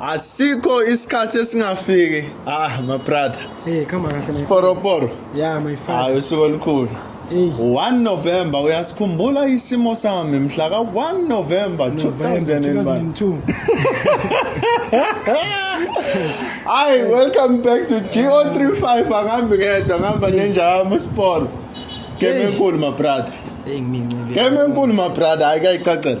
Asikho isikhathi esingafiki. Ah, my brother. Hey, come on. Sporoporo. Yeah, my father. Hayi usuku olukhulu. 1 November uyasikhumbula isimo sami mhla ka 1 November 2002 Hi welcome back to GO35 angambi ngedwa ngihamba nenja yami uSport Game enkulu my brother Hey ngincebe Game enkulu my brother ayikayicacela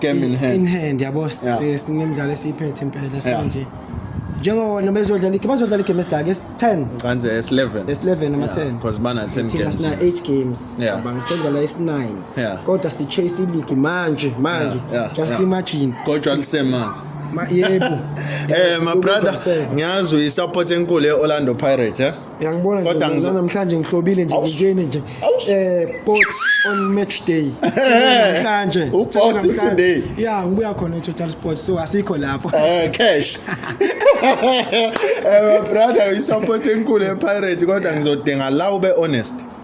game in hand in hand yabo Yeah. eh, sinemidlalo esiyiphethe impela Yeah. so nje njengobona bezodlala igame bazodlala igame esingaka esi-10 ngicanze esi-11 esi-11 ama-10 because bana-10 thina games sina 8 games Yeah. cabanga sodlala esi-9 Yeah. kodwa si-chase iligi manje manje Yeah, yeah, just yeah. imagine kodwa lisemanzi Ma- yebo Eh my brother Ubudonseka. ngiyazi uyi-support enkulu e-Orlando Pirates eh Uyangibona Kodwa nje ngizo- namhlanje ngihlobile nje Awush. ngingeni nje. Awush. Eh pot on match day. Sithele Namhlanje. U sithele pot namhlanje. today. Yeah, ngibuya khona eTotal Sports so asikho lapho. Eh cash. Eh brother uyisupport enkulu ePirates kodwa ngizodinga la ube honest.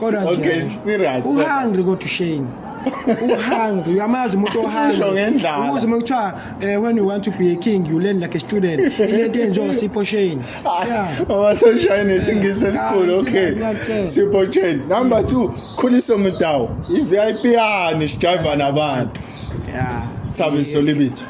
kodwa nje Okay, serious. uhungry kodwa shame uhungry uyamazi umuntu Sisho ohungry ngendlala. umuzi uma kuthiwa eh, when you want to be a king you learn like a student ilento enjengo sipho shame yeah Mama sunshine isingisi esikhulu Ah, okay. singathi- Sipho chain. Number 2, Khuliso Mdawu. I VIP yani sijiva nabantu. yeah Thabiso libitho.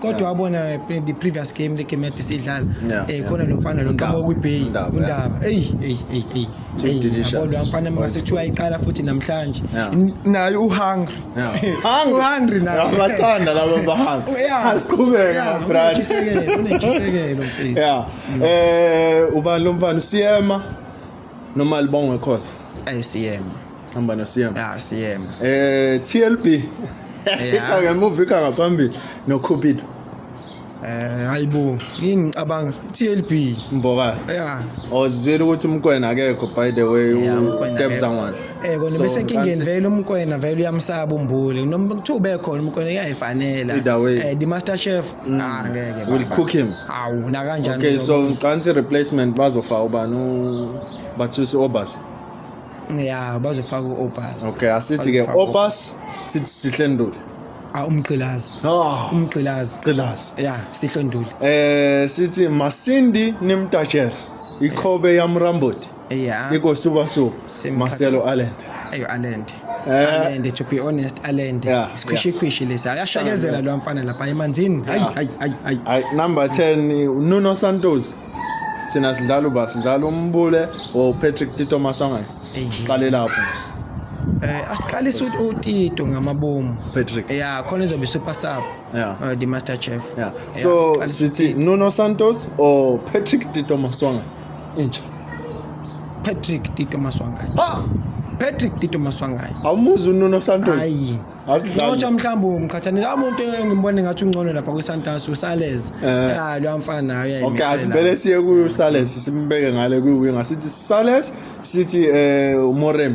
kodwa wabona the previous game le game yade sidlala eh khona lo mfana lo qhamuka kwiBay undaba hey hey hey hey kodwa mfana makasithiwa iqala futhi namhlanje naye uhungry hungry uhungry naye abathanda laba bahanga oh, asiqhubeke my brother unejisekelo mfethu yeah eh ubani lo mfana usiyema noma libongwe khoza ay CM hamba no CM ah CM eh TLB ikha ngemuva ikha ngaphambili no Cupido eh hayibo yini ngicabanga TLB Mbokazi yeah ozwile ukuthi umkwena akekho by the way uTebza ngwana Eh kona bese nkingeni vele umkwena vele uyamsaba umbuli. Noma kuthiwa ubekhona umkwena uyayifanela. Eh the master chef. Mm. Ah ngeke. Will cook him. Awu na kanjani. Okay so ngicantsi replacement bazofa ubani u Bathusi Obasi. Yeah bazofaka uObasi. Okay asithi ke Obasi sithi sihle nduli. Ah umgqilazi. Oh umgqilazi. Gqilazi. Yeah sihle nduli. Eh sithi Masindi nimtajela. Ikhobe yamramboti. Yeah. Iko super super. Same Marcelo Allen. Ayo Allen. Eh. Allen to be honest Allen. Yeah. Squishy squishy lesi. Ayashakezela lo mfana lapha emanzini. Hayi hayi hayi hayi. Hayi number 10 Nuno Santos. Thina sidlala uba sidlala umbule o Patrick Tito Masonga. Qale lapho. Eh asiqalisa uTito ngamabomu. Patrick. Yeah, khona izobe super sub. yeah. uh, the master chef yeah. so yeah. sithi nuno santos or patrick tito maswanga intsha patrick tito maswanga ah! patrick tito maswanga awumuzi ununo santos hayi ngotsha mhlawumbi umkhathanisa amuntu engimbone ngathi ungcono lapha kwisantas usalez eh. ya loya mfana okay asibele siye kuyo usalez simbeke ngale kwiwinga sithi salez sithi um eh, umorem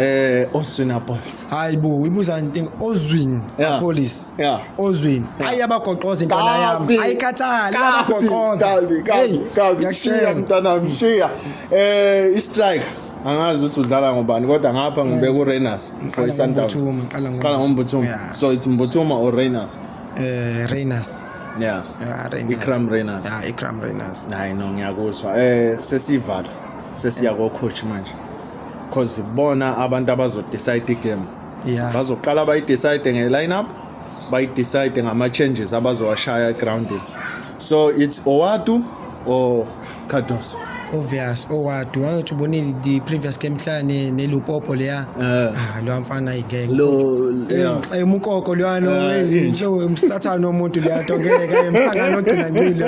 eh ozwin apolis hayi bo ibuza into ozwin yeah. apolis yeah ozwin yeah. ayi abagoqoza intwana yami ayikhathali abagoqoza kabi kabi kabi ngishiya mntana mshiya eh i strike angazi ukuthi udlala ngobani kodwa ngapha ngibe ku Rainers for Sundowns qala ngombuthuma yeah. so it's mbuthuma or Rainers eh Rainers yeah, yeah Rainers. Ikram Rainers yeah Ikram Rainers hayi no ngiyakuzwa eh sesivala sesiya ko coach manje because bona abantu abazodecide igame yeah. bazoqala bayidecide nge-lineup bayidecide ngama-changes abazowashaya egroundini so it's owatu or cardoso obvious owadu wangathi ubonile the previous game mhla nelupopo leya eh. ah lo mfana igeke umkoko lwana eh, nje umsathana omuntu leya to ngeke kaye msangano ogcina ngcilo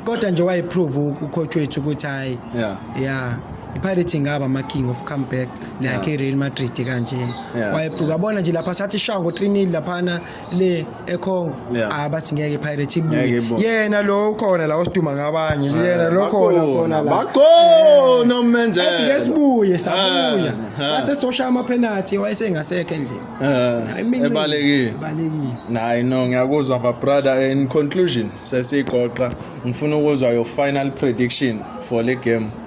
kodwa nje wayiprove ucoach wethu ukuthi hayi yeah yeah ipirates ingaba ama-king of comeback like i-real madrid kanjena Yeah. wayephuka yabona nje lapha sathi ishawa ngo-trinil laphana le econgo Yeah. ah bathi ngeke ipirates Ngeke ibuye ibuye. yena lo ukhona la osiduma ngabanye yena lo khona khona la bakhona umenzela athi ke sibuye sabuya Ah, ah. sase soshaya amaphenathi wayesengasekho endlini Eh, Imincele. ebalekile Ibalekile. nayi no ngiyakuzwa my brother in conclusion sesigoqa ngifuna ukuzwa your final prediction for le game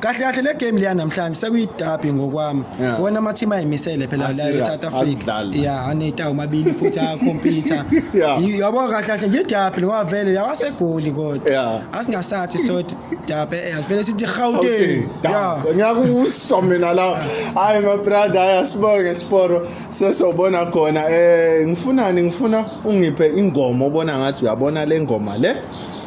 kahle kahle le game leya namhlanje sekuyidabi ngokwami Yeah. wona ama-team ayimisele phela Ah, la serious, e-south africa asidlali. ya aneta omabili futhi akhompyutha Yeah. Y- yabo kahle kahle nje idabi ngoba vele yawasegoli kodwa Yeah. asingasathi sodwa dabi eh, asivele sithi gauteng ya ngiyakusho mina la hayi mabrada hayi asibonge siporo sesobona khona um ngifunani ngifuna ungiphe ingoma obona ngathi uyabona le ngoma le